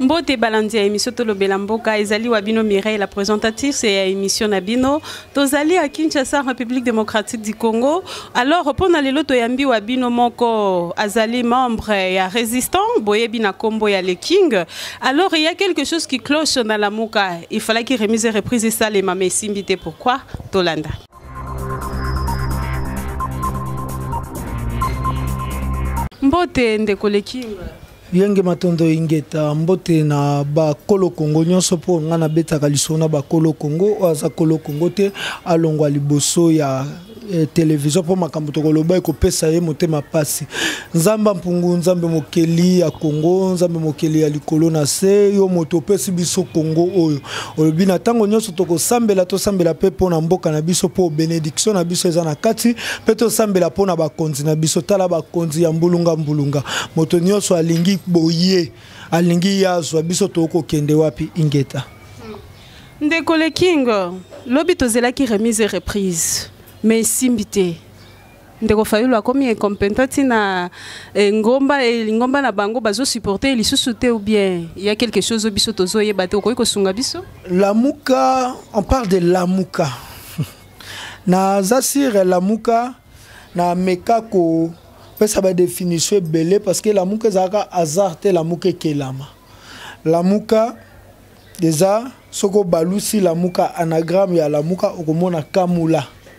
mbote balandi ya émission tolobela mboka ezali wa bino mireille la présentatrice ya émission na bino tozali ya kinshasa république démocratique du congo alors mpo na lelo toyambi wa bino moko azali membre ya résistant boyebi na nkombo ya le king alors il y a quelque chose qui cloche na lamuka il falaki remise et reprise esalema ma esimbi te pourquoi tolanda mbote ndeko le king Yenge Matondo Ingeta, mbote na bakolo Kongo nyonso mpo ngai nabetaka lisolo na bakolo Kongo oyo aza kolo Kongo te alongwa liboso ya eh, televizio mpo makambo tokoloba ekopesa ye motema mpasi. Nzambe mpungu, Nzambe mokeli ya Kongo, Nzambe mokeli ya likolo na se, yo moto opesi biso Kongo oyo. olobi na ntango nyonso tokosambela tosambela mpe mpo na mboka na biso mpo benediction na biso eza na kati mpe tosambela mpo na bakonzi na biso tala bakonzi ya mbulunga mbulunga moto nyonso alingi boye alingi ye azwa biso tokokende wapi ingeta ndeko le king lobi tozelaki remise et reprise mais esimbi te ndeko fayulu akomi incompenta ntina eh, ngomba eh, lingomba na bango bazosupporte lisusu te ou bien ya quelque chose oyo biso tozoyeba te okoki kosunga biso lamuka on parle de lamuka naza sire lamuka na meka kopesa badefinition ebele parce que lamuka ezalaka hasard te lamuka ekelama lamuka eza soki obalusi lamuka anagramme ya lamuka okomona kamula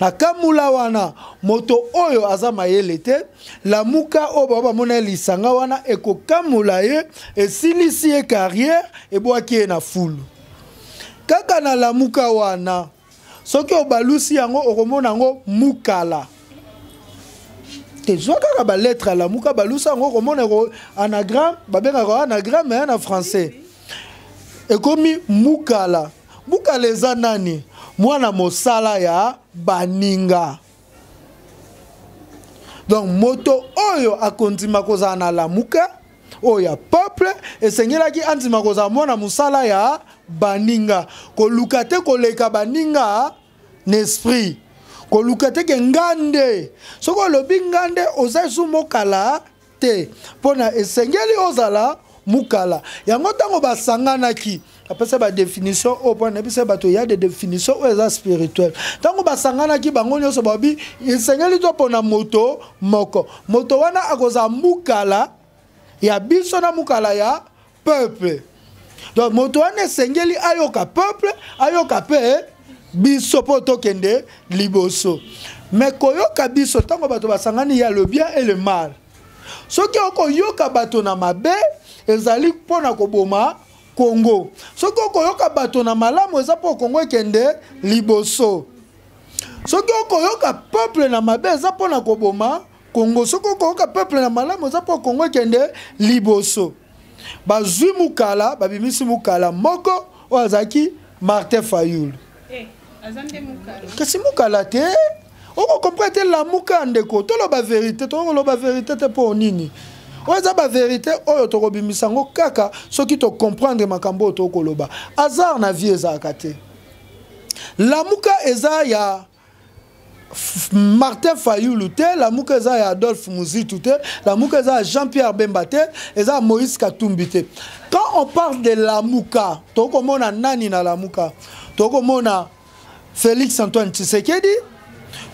na kamula wana moto oyo aza mayele te lamuka oyo baba bamona ye lisanga wana ekokamula ye esilisi ye carrière ebwaki ye na fulu kaka na lamuka wana soki obalusi yango okomona yango mukala tezwa kaka baletre ya lamuka balusa yango okomona anagramme babengaka anagramme ya na français ekomi mukala Bukala eza nani? Mwana mosala ya baninga. Donc moto oyo akondima kozala na lamuka oyo ya peuple esengelaki andima kozala mwana mosala ya baninga koluka te koleka baninga na esprit koluka te ke nga nde soki olobi nga nde oza esu mokala te mpo na esengeli ozala mukala yango ntango basanganaki apesa badefinition oyo mpo na biso bato ya de definition oyo eza spirituel ntango basanganaki bango nyonso babi esengeli topona moto moko moto wana akozala mukala ya biso na mukala ya peuple donc moto wana esengeli ayoka peuple ayoka mpe eh, biso mpo tokende liboso me koyoka biso ntango bato basangani ya le bien et le mal soki okoyoka bato na mabe ezali mpo na koboma kongo soki okoyoka bato na malamu eza mpo kongo ekende liboso soki okoyoka peuple na mabe eza mpo na koboma Congo soki okoyoka peuple na malamu eza mpo Congo ekende liboso bazwi mukala babimisi mukala moko oyo azalaki Martin Fayulu eh, kasi mukala te okokomprene te lamuka ndeko toloba verite tokoloba verite te mpo nini oyo eza baverité oyo tokobimisa yango kaka soki tocomprendre makambo oyo tokoloba hasard na vie ezalaka te lamuka eza ya martin fayulu te lamuka eza ya adolphe muzitu te lamuka eza ya jean pierre bemba te eza ya moïse katumbi te quand on parle de lamuka tokoki komona nani na lamuka tokoki komona félix antoine tshisekedi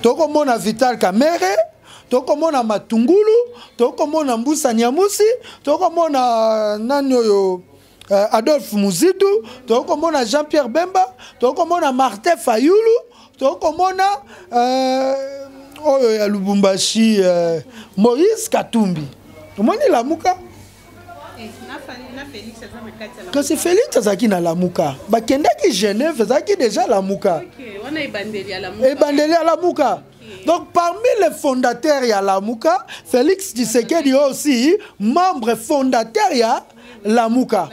tokoki komona vital kamere tokoki komona matungulu tokoki komona mbusa nyamusi tokoki komona euh, nani oyo euh, adolphe muzitu tokoki komona jean pierre bemba tokoki komona martin fayulu tokoki komona euh, oyo ya lubumbashi euh, moïse katumbi omoni lamuka kasi félix azalaki na lamuka bakendaki genève ezalaki déjà lamuka ebandeli ya lamuka donc parmi les fondateurs ya lamuka félix tshisekedi aussi membre fondateur ya lamuka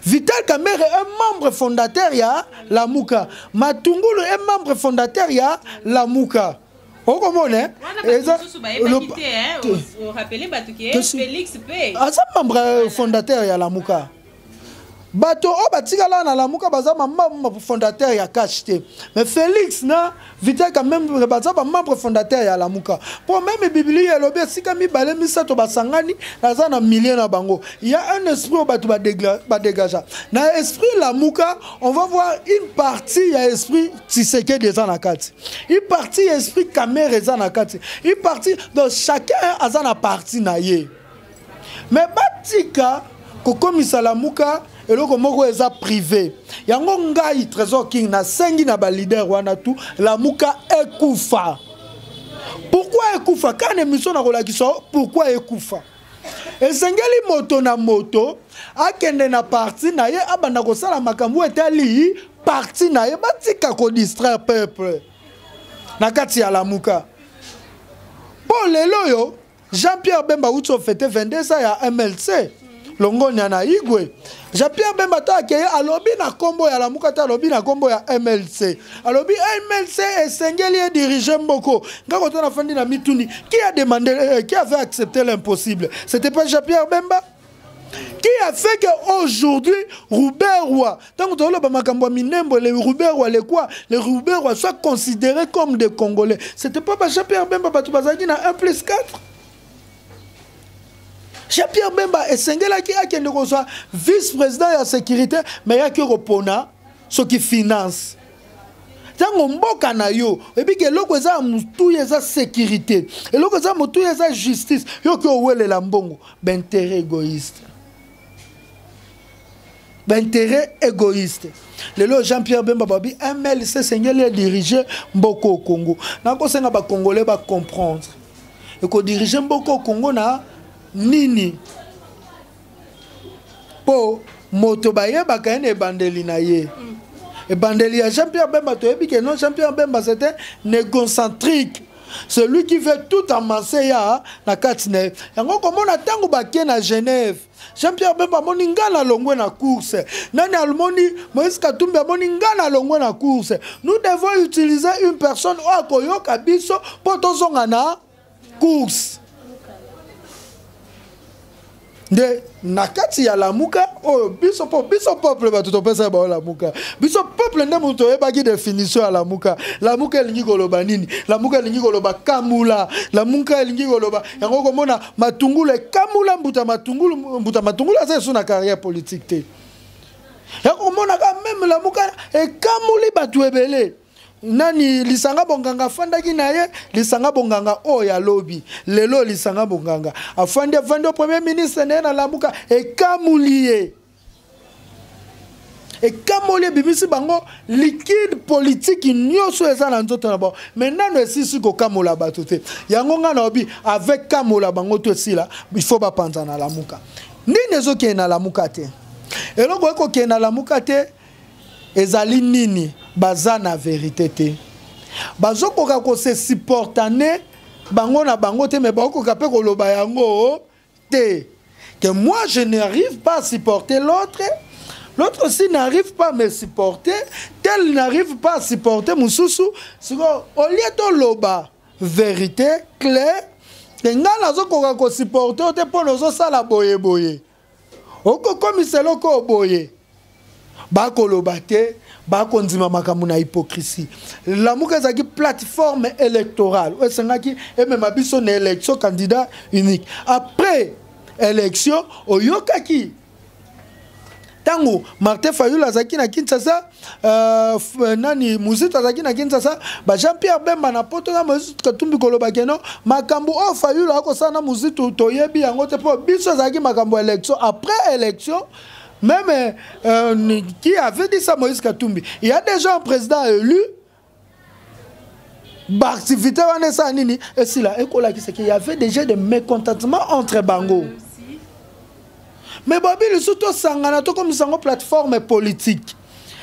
vital kamere un membre fondateur ya lamuka matungulu un membre fondateur ya lamuka okomona eh? eza aza membre fondateur ya lamuka bato oyo batikala na lamuka baza bamembre fondateur ya cash te mais félix na vital kamembre baza bamembre fondateur ya lamuka mpo meme biblia elobi esika mibale misato basangani naza na milieu na bango ya un esprit oyo bato badegagea na esprit lamuka on va voir une partie ya esprit tisekedi eza na kati une partie ya esprit kamere eza na kati une partie donc chacun aza na partie na ye mais batika kokomisa lamuka eloko moko eza privé yango ngai trésor king nasengi na balider wana tu lamuka ekufa pourkui ekufa kaka na émission nakolakisa pourkui ekufa esengeli moto na moto akende na parti na ye abanda kosala makambo etali parti na ye batika kodistraire peuple na kati ya lamuka mpo lelo oyo Jean-Pierre Bemba awuti ofete 22 ans ya MLC longonya na igwe jean-pierre bemba to akeye alobi na nkombo ya lamuka te alobi na nkombo ya mlc alobi mlc esengeli edirige mboko nga koto nafandi na mituni qui a demandé euh, qui avait accepté l'impossible c'était pas jean-pierre bemba qui a fait que aujourd'hui Ruberwa, tant que le Bamakambo Minembo, les Ruberwa, les quoi, les Ruberwa soient considérés comme des Congolais. C'était pas Jean-Pierre Bemba Batoubazaki na 1 plus 4 Jean-Pierre Bemba et Sengelaki akende kozwa vice-président de la sécurité, mais yaki kopona ce qui finance. ntango mboka na yo ebiki eloko eza ya motuya eza sécurité eloko eza motuya eza justice yo ke owelela mbongo baintérêt égoïste baintérêt égoïste lelo jean pierre bemba babi mlc esengeli edirige mboka o congo nakosenga bacongolais bacomprendre ekodirige mboka o congo na nini mpo moto bayebaka ye na ebandeli na ye mm. ebandeli ya jean pierre bemba toyebi ke non jean pierre bemba c'était négocentrique celui qui veut tout amanse ya na kati na ye yango komona ntango bake na genève jean pierre bemba amoni nga na longwe na course nani almoni moïse katumbi amoni nga na longwe na course nous devons utiliser une personne oyo akoyoka biso mpo tozonga na course nde na kati ya lamuka oyo biso po biso peuple bato topesa bao lamuka biso peuple nde moto toyebaki definition ya lamuka lamuka elingi koloba nini lamuka elingi koloba kamula lamuka elingi koloba yango okomona matungulu ekamula mbuta matungulu mbuta matungulu aza esu na carrière politique te yango omonaka meme lamuka ekamuli bato ebele nani lisanga bonganga afandaki na ye lisanga bonganga oyo ya lobi lelo lisanga bonganga afandi afandi premier ministre na ye na lamuka ekamoli ye ekamoli ebimisi bango likide politiki nyonso eza na nzoto na bango mai nano esisi kokamola bato te yango ngai naobi avec kamola bango to esila ifo bapanza na lamuka nini ezokende na lamuka te eloko ekokende na lamuka te ezali nini baza na verite te bazokoka kose supportane bango na bango te me bakokoka mpe koloba yango te que moi je n'arrive pas à supporter l'autre l'autre aussi n'arrive pas à me supporter tel n'arrive pas à supporter mosusu sikoyo olie toloba vérité claire te ngai nazokoka kosupporte yo te mpo na ozosala boyeboye okokomisa eloko oyo boye bakoloba te bakondima makambo na hypocrisie lamuka ezalaki plateforme électorale oyo esengaki emema biso na élection candidat unique après élection oyokaki ntango martin fayul azalaki na kinshasa Euh, euh, nani muzita azalaki na kinshasa ba jean pierre bemba na poto na mozitu katumbi koloba keno makambo oyo fayulu akosala na mozitu toyebi yango te mpo biso ezalaki makambo ya élection après élection meme euh, qui avait dit ça moïse katumbi il y a déjà un président élu baactivité wana esala nini esila ekolakisaki y avait déjà de mécontentement entre bango mais bobi lisusu tosangana tokomisa yango plateforme politique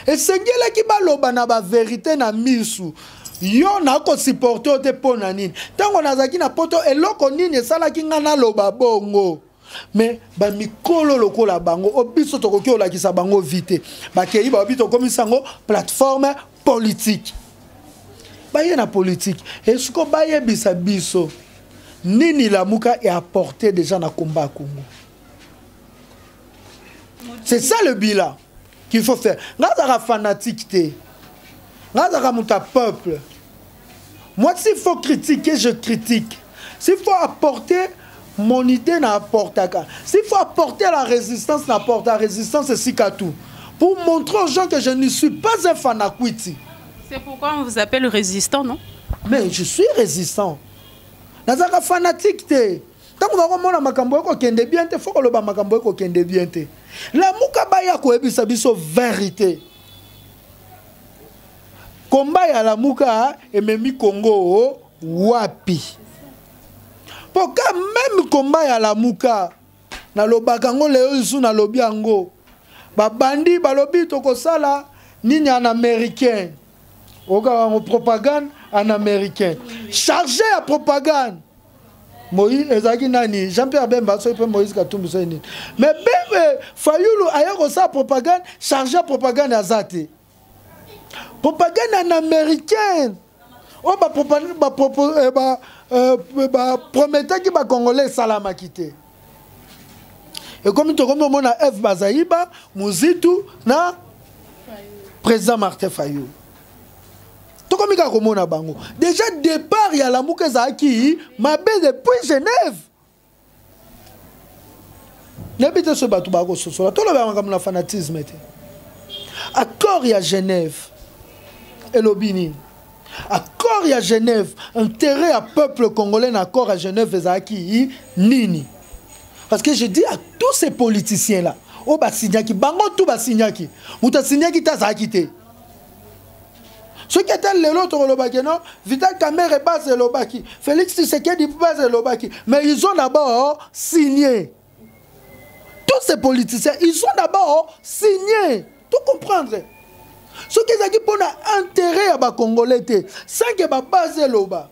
esengelaki baloba na baverité na misu yo nakosupporte yo te mpo na nini ntango nazalaki na poto eloko nini esalaki ngai naloba bongo mais bamikolo lokola bango o biso tokoki kolakisa bango vi te bakei baobi tokomisa yango plateforme politike baye na politike esiko bayebisa biso nini lamuka eapporte déjà na komba ya kongo c'est ça le bilan qu'il faut faire nga azalaka fanatique te nga azalaka moto ya peuple Moi, s'il faut critiquer, je critique. S'il faut apporter mon idée, n'apporte pas. S'il faut apporter la résistance, n'apporte la résistance, c'est tout. Pour montrer aux gens que je ne suis pas un fanakwiti. C'est pourquoi on vous appelle résistant, non Mais je suis résistant. nazalaka fanatique te ntango bakomona makambo ekokende bien te fo koloba makambo ekokende bien te lamuka baya koyebisa biso verité Combat ya Lamuka ememi Congo wapi? Mpo ka meme combat ya Lamuka nalobaka yango lelo lisusu nalobi yango babandi balobi tokosala nini en américain okaka yango propagande en américain charge ya propagande moïse ezalaki nani jean pierre bemba soki mpe moïse katumbi soki nini mais bembe fayulu aya kosala propagande charge ya propagande aza te propagande en américaine oyo oh, baprometaki eh, eh, bacongolais esalamaki te ekomi tokomi omona eve bazaiba muzitu na président martin fayou tokomi kaka komona bango déjà départ ya lamuka ezalaki mabe depuis genève nayebi te soki bato bakososola tolobela makambo na fanatisme te accord ya genève elobi nini accord ya genève intérêt ya peuple congolais na accord ya genève ezalaki nini parce que je dis à tous ces politiciens là oyo basignaki bango tu basignaki moto asignaki te azalaki te soki ata lelo tokolobaki no vital kamere base elobaki félix tshisekedi base elobaki mais ils ont d'abord signé tous ces politiciens ils ont d'abord signé to comprendre soki ezalaki mpo na intérêt ya bacongolais te sanke babase eloba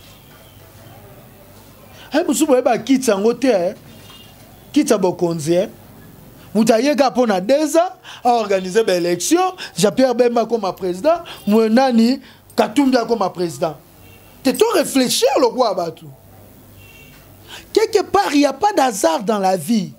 Hey, mosusu boyeba kiti yango te eh. kiti ya bokonzi eh. moto ayeka mpo na deux ans aorganize baélection jean pierre bemba akoma président moye nani katumbi akoma président te to réfléchir lokola bato quelque part il n'y a pas d'hasard dans la vie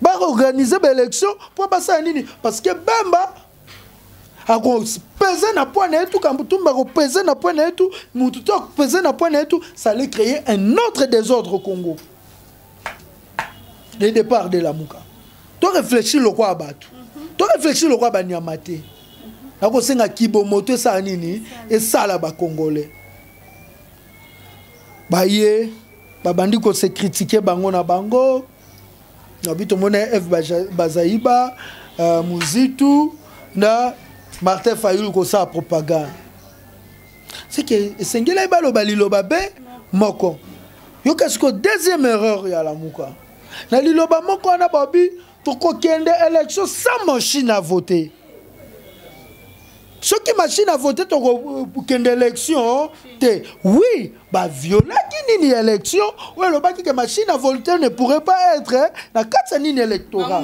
baorganize baélection mpo basala nini parce que bemba akopese na poi na ye tu kambutumba akopese na poi na ye tu motu to akopese na poi na ye tu sale créer un autre désordre au congo le départ de lamuka to réfléchir lokwa ya bato to réfléchir lokwa ya banyama te nakosenga kibomoto esala nini esala bacongolais baye babandi ko se critiquer bango na bango nabi tomona f bazaiba uh, muzitu na martin fayulu kosala propagande seke esengelaki baloba liloba be moko yoka sikoyo deuxième erreur ya lamuka na liloba moko wana babi tokokende élection sans machine à voter soki machine à voter tokokende élection te oui baviolaki nini ya élection oyo elobaki ke machine à voter ne pourrait pas être na kati ya nini électorat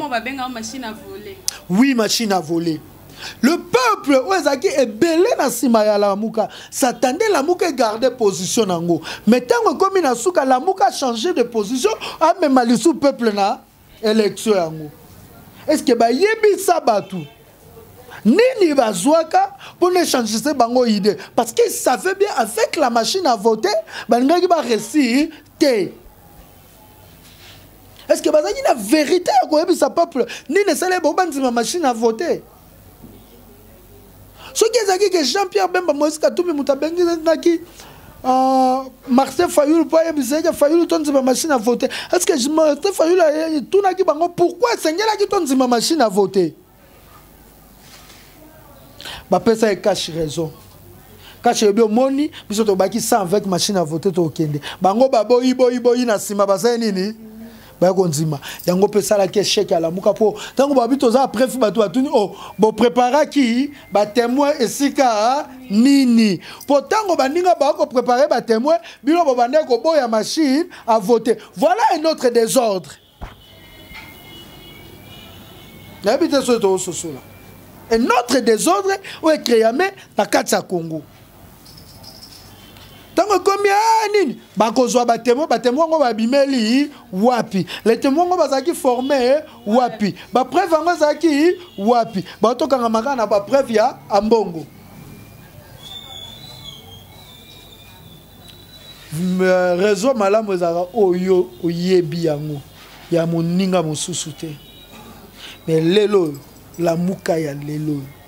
oui machine à voler le peuple oyo ezalaki ebele na nsima ya lamuka satande lamuka egarde position na yango mai ntango ekomi na suka lamuka change de position amema lisu peuple na election yango eske bayebisa bato nini bazwaka mpo na échangise bango idée parce qu'il savait bien avec la machine à voter balingaki baresir te est ce que bazalaki na vérité ya koyebisa peuple nini esali bango bandima machine à voter soki ezalaki ke jean pierre bemba moïse katumbi moto abenginaki euh, martin fayulu mpo ayebisaki fayulu tondima machine à vote est ce que martin fayulu etunaki bango pourquoi esengelaki tondima machine à vote bapesa ye cash raison kasi ebi omoni biso tobaki 100 avec machine à vote tokende bango baboyi boyi boyi na nsima basali nini baya kondima yango mpe esalaki esheke alamuka mpo ntango babi toza prefi bato batuni o oh, bopreparaki batemoin esika nini mpo ntango baninga baya koprepare batemoin bino bobandaki koboya machine a vote voilà un autre désordre nayebi te soki tokososola un autre désordre oyo ekreame na kati ya congo ntango ekomi ah, nini bakozwa batemo batemo yango babimeli wapi letemo yango bazalaki forme eh, wapi bapreuve yango ezalaki wapi batokanga makaka na bapreuve ya ambongo euh, réseau malamu ezalaka oyo oyebi yango ya moninga mosusu te me lelo oyo lamuka ya lelo oyo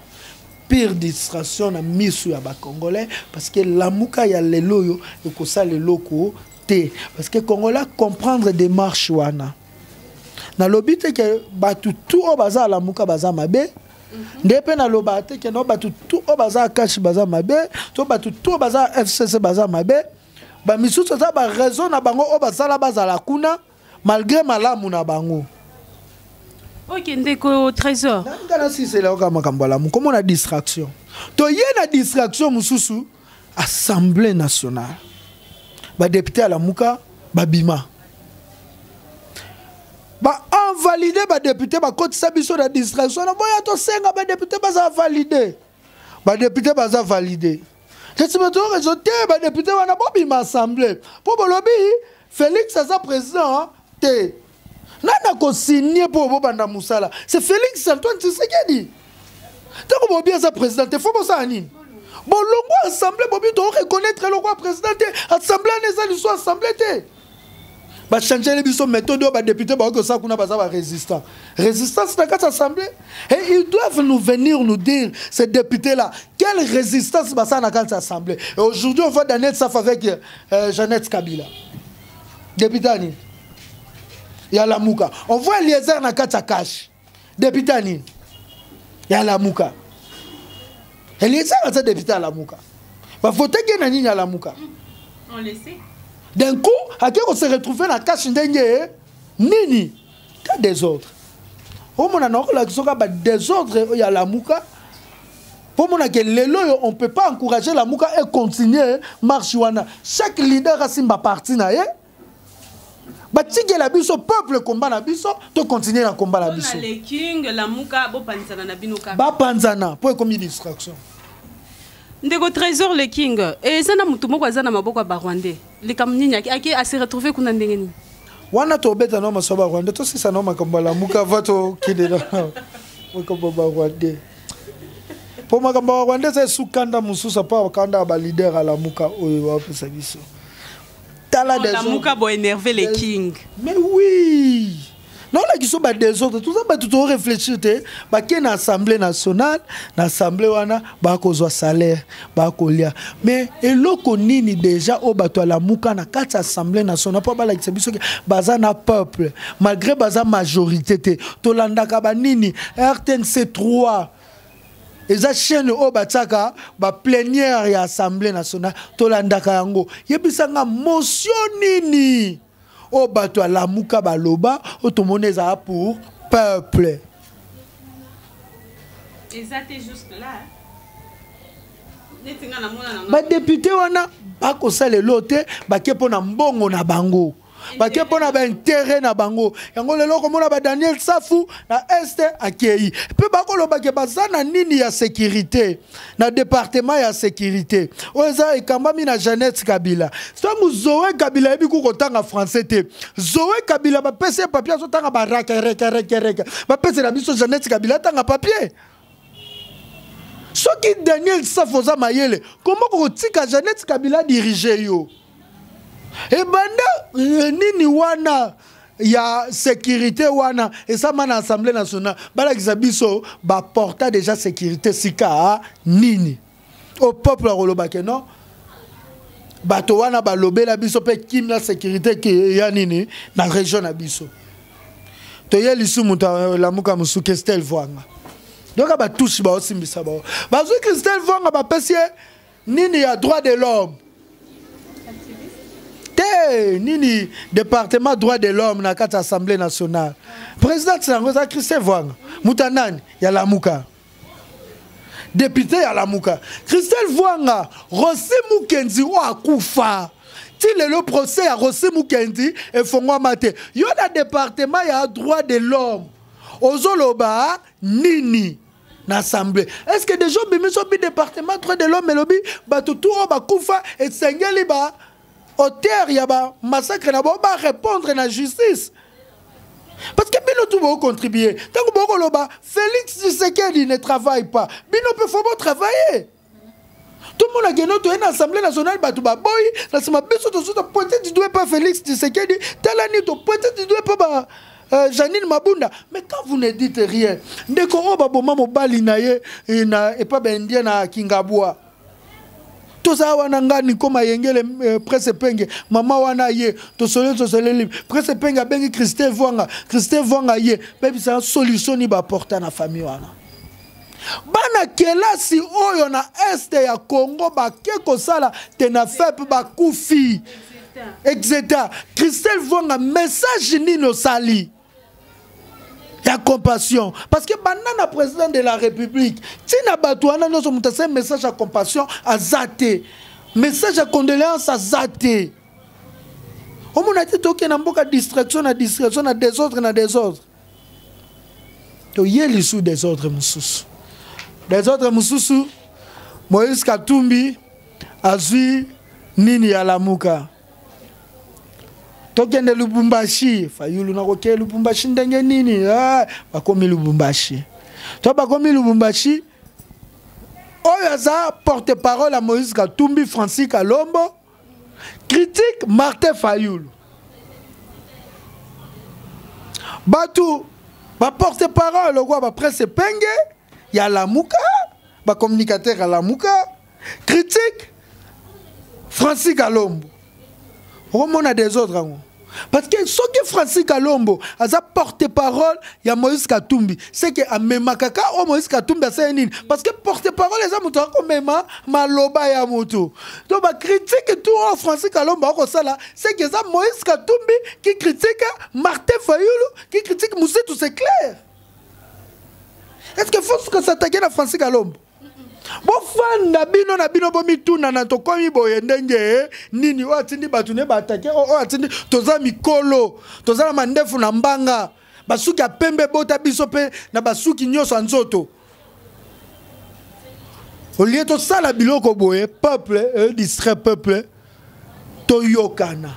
pire distraction na misu ya ba congolais parce que lamuka ya lelo yo ekosala eloko te parce que congolais comprendre démarche wana nalobi te ke bato tout oyo baza alamuka baza mabe mhm. nde mpe naloba te ke no bato tout oyo baza akashi baza mabe to bato tout oyo baza fcc baza mabe bamisusu eza baraison na bango oyo basala bazala kuna malgré malamu na bango oke ndeko trésor nanga nasisela yoka makambo alamu komona distraction toye na distraction mosusu assemblée nationale badepute alamuka babima baenvalide badepute bakotisa biso na distraction na boya tosenga badepute baza valide ba député baza validé kasi bato oyo rezo te ba député wana bobima assemblée mpo bolobi félix aza président te nani akosigne mpo bobanda mosala c'est félix antoine tshisekedi ntango bobi aza président te fo bosala nini bolongwa assemblée bobi tokoreconnaitre eloko ya président te assemblée wana eza liso assemblée te bachangele biso méthode oyo badepute baoki kosala kuna baza barésistant résistance na kati assemblée et ils doivent nous venir nous dire ces députés là quelle résistance basala na kati assemblée et aujourd'hui on voit daniel saf avec euh, jeannette kabila député ani ya lamuka on voit eliezer na kati ya kashe depute ya nini ya lamuka eliesaka aza depute ya lamuka bavotaki ye na nini ya lamuka d'un coup ake kose retrouve na kashe ndenge nini ta desordre omona na okolakisoka badesordre oyo ya lamuka mpo omonake lelo oyo on peut pas encourager lamuka e continue marche wana chaque leader asimba parti na ye batikela biso peuple komba na biso tokontinue na komba na biso bapanzana mpo ekomi distraction ndeko trésor le king eh, eza na motu moko aza na maboko ya barwandais likambo nini ake ase retrouve kuna ndenge nini wana tobeta nao maso ya barwandais tosisa nao makambo ya lamuka va tokende na makambo ya barwandais mpo makambo ya barwandais eza esukanda mosusu apa kanda ya balider alamuka oyo bapesa biso tala lamuka bo énerver les king mais oui naolakisa ba desordre toza bato to réfléchir te bake na assemblée nationale na assemblée wana bakozwa salaire bakolia mais eloko nini déjà oyo bato ya lamuka na kati ya assemblée nationale mpo balakisa biso ke baza na peuple malgré baza majorité te tolandaka banini rtnc 3 eza chaîne oyo batiaka baplenière ya assemblée nationale tolandaka yango yebisa nga mosio nini oyo bato ya lamuka baloba oyo tomoni ezala pour peuple eza te jusque là badepute wana bakosala elo te bake mpo na mbongo na bango bake mpo na baintere na bango yango lelo okomona badaniel safu na este akei mpe bakolobake baza na nini ya sekirite na departema ya sekirite oyo eza ekambami na jeannette kabila ntango zoe kabila ayebi ku kotanga français te zoe kabila bapesi ye papier azotanga barakerekerekereke bapesela biso jeannette kabila atanga papier soki daniel safu oza mayele koma kokotika janete kabila dirige yo ebanda eh, nini wana ya sécurité wana esama na assemblée nationale balakisa biso baporta déjà sécurité sika nini au peuple à koloba que non bato wana balobela biso mpe kim na sécurité eya nini na région na biso toye lisu moto alamuka mosusu kestel vwanga yoka batushi baosimbisa bao bazwi kestel vwanga bapesi ye nini ya droit de l'homme te nini département droit de l'homme na kati assemblée nationale présidente na yango eza christel vwanga moto ya nani ya lamuka depute ya lamuka christelle vuanga rosi mukenzi oyo akufa ti lelo procès ya rosi mukenzi efongwama te yo na departement ya droit de l'homme ozoloba nini na assemblée est ce que déjà obimisi obi departement droit de l'homme elobi bato tu oyo bakufa esengeli ba auteur ya ba massacre na bango ba répondre na justice parce que bino tu bocontribue ntango bokoloba félix tshisekedi ne travaille pas bino mpe fo botravaille tomonake no toye na assemblée nationale bato baboyi na nsima biso tozo topointe du doigt mpe félix tshisekedi tala nini topointe du doigt mpe ba Euh, Janine Mabunda, mais quand vous ne dites rien, ndeko oyo baboma mobali na ye eh, na epa ba indien na Kingabwa. toza wana nga niko mayengele eh, presse penge mama wana ye tosoleli tosoleli presse penge abengi christe vwanga christe vwanga ye bebisa solution ni baporta na famille wana bana kelasi oyo na este ya congo bake kosala tenafep bakufi etc christel vwanga message nini osali ya compassion parce que banda na président de la république ntina bato wana nyonso moto asali message ya compassion aza te message ya condoléance aza te omona te tokende na mboka distraction na distraction na desordre na desordre toye lisu desordre mosusu desordre mosusu moïse katumbi azwi nini ya lamuka tokende lubumbashi fayulu nakokee lubumbashi ndenge nini eh, bakomi lubumbashi to bakomi lubumbashi oyo aza porte parole ya moïse katumbi francis kalombo critique martin fayulu bato baporte parole lokola bapresse penge ya lamuka bacommunicateur ya lamuka critique francis kalombo okomona desordre yango parce que soki francis kalombo aza porte parole ya moïse katumbi seke amemaka ka oyo moïse katumbi asali nini parce que porte parole eza moto akomema maloba ya moto to bacritique tu oyo francis kalombo akosala seke eza moïse katumbi ki critique martin fayulu ki critique mositu c'est clair est ce que fo suka s'attaquer na francis kalombo bofanda bino na bino bomitunana tokomi boye ndenge nini oyo atindi bato ne baatake oyo atindi toza mikolo toza na mandefu na mbanga basuki ya pembe ebota biso mpe na basuki nyonso ya nzoto olie tosala biloko boye peuple eh, distrait peuple toyokana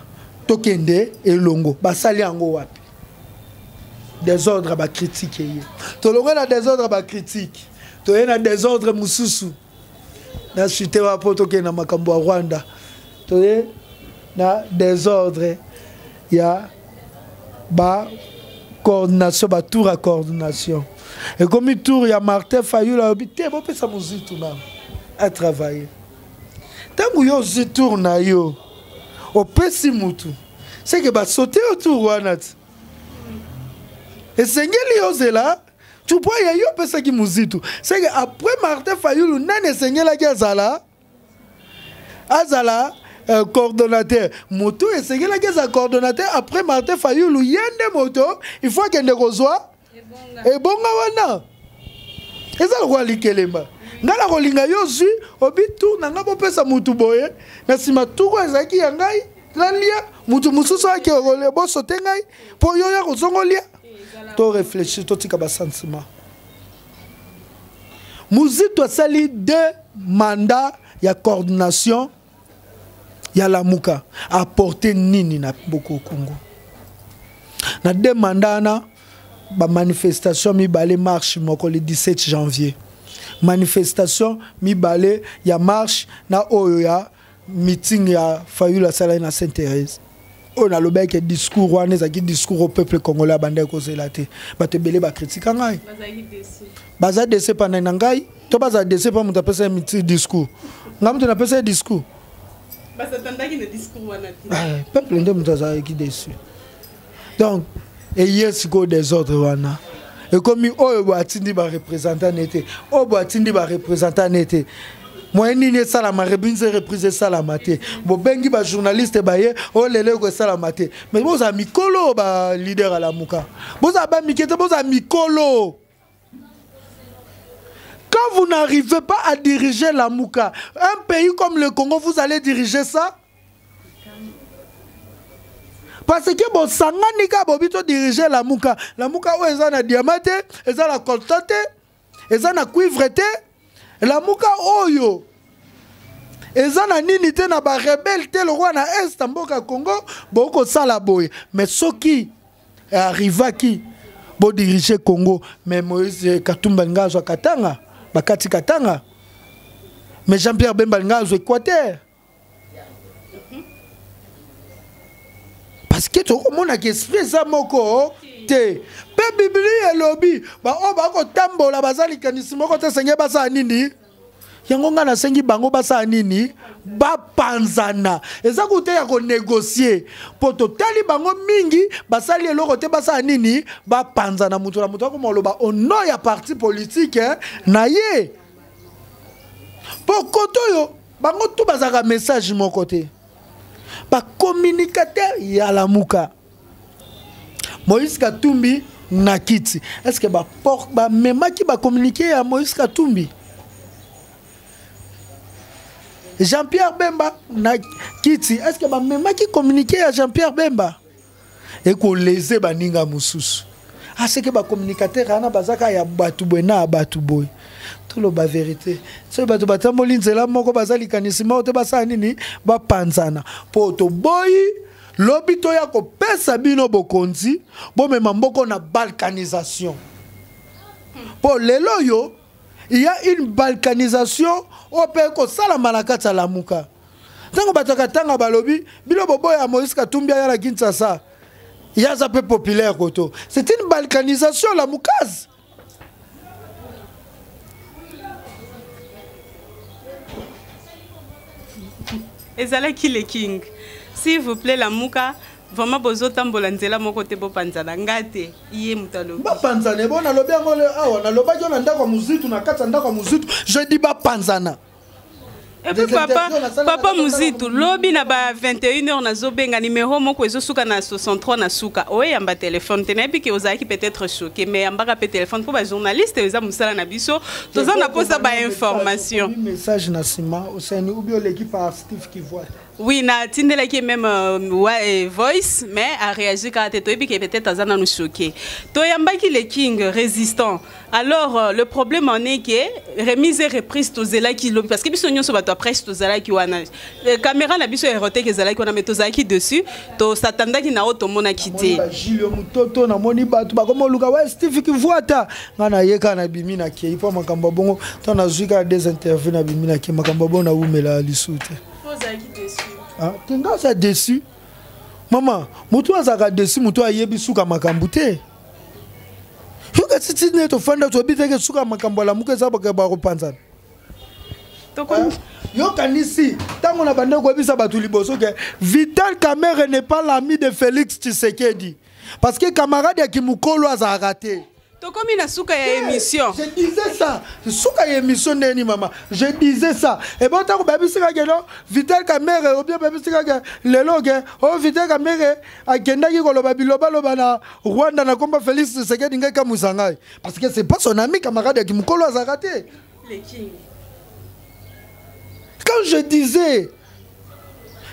tokende elongo basali yango wapi desordre bakritike ye tolongo na desordre bakritike toye na desordre mosusu na sute wa mpo tokende na makambo ya rwanda toye na desordre ya ba coordination batour ya coordination ekomi tour ya martin fayul alobi te bopesa mozwi tunana atravaille ntango yo ozwi tour na yo opesi motu seke basote yo tour wana ti esengeli ozela tupo ya yo opesaki mozitu seke après martin fayulu nani esengelaki azala azala euh, coordonnateur motu esengelaki azala coordonnateur après martin fayulu ye nde moto il faut akende kozwa ebonga wana eza lokola likelemba ngai nakolinga yo ozwi obi tour na ngai bopesa motu boye na nsima tuku ezalaki ya ngai nalia motu mosusu ayaki boso te ngai mpo yo ya kozongolia to réfléchir totika basentiment muzito asali deux mandat ya coordination ya lamuka aporte nini na boko congo na de manda wana bamanifestation mibale marche moko le 17 janvier manifestation mibale ya marche na oyo ya meeting ya fayulu asalaki na saint therese oyo nalobaki ke discours wana ezalaki discours au peuple congolais abandaki kozela te bato ebele bakritika ngai baza dese pandai na ngai to bazala dese mpa moto apesa ye discours ngai moto napesa ye discours eh, peuple nde moto azalaki desu donc eye sikoyo desordre wana ekomi oyo boye atindi barepresentant ne te oyo boye atindi barepresentant ne te moyen nini esalama rebinze reprise esalama te bobengi bajournaliste baye oyo oh, lelo eko esalama te mais bozala mikolo balider alamuka bozala bamike te bozala mikolo quand vous n'arrivez pas à diriger lamuka un pays comme le congo vous allez diriger ça parce que bosangani kaka bobi todirige lamuka lamuka oyo eza na diama te eza na colta te eza na cuivre te lamuka oyo eza na nini te na barebele te lokola na est mboka ya congo bokoki kosala boye mais soki arrivaki bodirige congo mais moise katumba linga azwa katanga bakati katanga mais jean pierre bemba linga azwa équateur parce que tokomonaka esprit eza moko te mpe biblia elobi baoyo bakotambola baza likanisi moko te esengeli basala nini yango ngai nasengi bango basala nini bapanzana eza kuta ya konegocie mpo totali bango mingi basali eloko te basala nini bapanzana moto na moto akoma oloba ono ya parti politike eh, na ye mpo koto oyo bango tu bazalaka message moko te bacommunicateur ya lamuka moïse katumbi na kiti est ce que bamemaki ba bacommunike ya moïse katumbi jean-pierre bemba na kiti est ce que bamemaki communike ya jean-pierre bemba ekoleze baninga mosusu aseke ah, bacommunicateur wana bazaka ya bato boye na ya bato boye toloba verité soki bato batamboli nzela moko baza likanisi moko te basala nini bapanzana mpo toboyi lobi toya kopesa bino bokonzi bomema mboko na balkanisation mpo lelo oyo ya une balkanisation oyo mpe ekosalama na kati ya lamuka ntango bato ya katanga balobi bino boboya moïse katumbi aya na kinshasa ye aza mpe populaire koto c'est une balkanisation la mukazi ezalaki le king s'il vous plaît lamuka vraiment bozotambola nzela moko te bopanzana nga te ye moto alobi bapanzana ebo nalobi yango awa nalobaki yo na ndako ya mozitu na kati ya ndako ya mozitu je dis bapanzana epuis papa papa muzitu lobi na ba 21 heures nazobenga numero moko ezosuka na 63 na suka oyamba telefone te nayebi ke ozalaki peut-être choqué mais yambaka mpe telefone mpo bajournaliste eza mosala na biso toza na mposa bainformation message na nsima osani ubi oleki par steve kivuata Oui, na tindela qui même euh, ouais, euh, voice, mais a réagi quand t'es toibi qui peut-être azana nous choqué. Toyamba qui le king résistant. Alors euh, le problème en est que remise et reprise to zela qui l'homme parce que biso nyoso bato après to zela qui wana. Euh, caméra na biso erote que zela qui wana mais to zela qui dessus, to s'attendait qui na auto mona quitté. Gilles mutoto na moni bato ba comme luka ouais Steve qui voit ta ngana yeka na bimi na qui il faut makamba bongo to na zuika des interviews na bimi na qui makamba bongo na wumela lisute. Ah, te nga aza desu mama motu azalaka desu motu ayebi suka makambo te yoka titi nde tofanda toyebi teke suka makambo alamuka eza bakopanzana ah, yokanisi ntango na banda koyebisa bato liboso ke vital kamere n'est pas l'ami de félix tshisekedi parce que camarade ya kimokolo azalaka te tokomi na suka ya émission je disais ça suka ya émission ndeni mama je disais ça et bon tango babisika ke no vital kamere ou bien babisika ke lelo ke o oh, vital kamere akendaki koloba bilobaloba na rwanda na komba félix tshisekedi ngai kamuisa ngai parce que c'est pas son ami camarade ya kimokolo azalaka te Le king. Quand je disais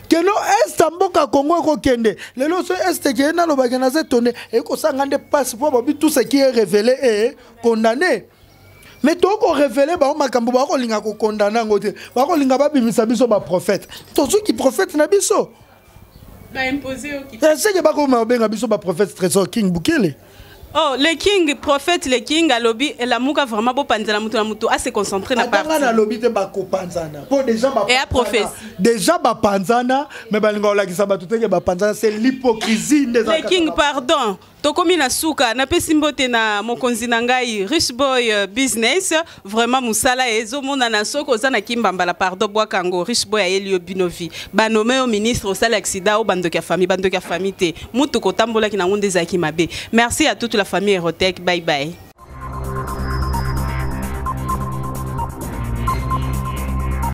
keno est ya mboka kongo ekokende lelo so est ekeye nalobaki naza etonde ekosanga nde mpasi mpo babi tout ce qui est révélé e condamné mais tokoki korevele bango makambo bakolinga kokondana yango te bakolinga babimisa biso baprofete tozuki profete na biso eseke bakoma obenga biso baprophète trésor king bukele Oh, le king, prophète, le king, alobi, et la mouka vraiment beau panzana moutou na moutou, à se concentrer na partie. Atanga na lobi te bako panzana. Po déjà ba Et à prophétie. Déjà ba panzana, mais ba linga olakisa ba tuteke ba panzana, c'est l'hypocrisie des Le king, pardon. tokomi na suka napesi mbote na mokonzi na ngai rich boy euh, business vraiment mosala ezomonana soki oza na kimbambala pardon bwaka yango rich boy ayeli yo bino vi banome yo ministre osali accident o bandoki ya famille bandoki ya famille te motuka otambolaki na yango nde ezalaki mabe merci à toute la famille erotec bye bye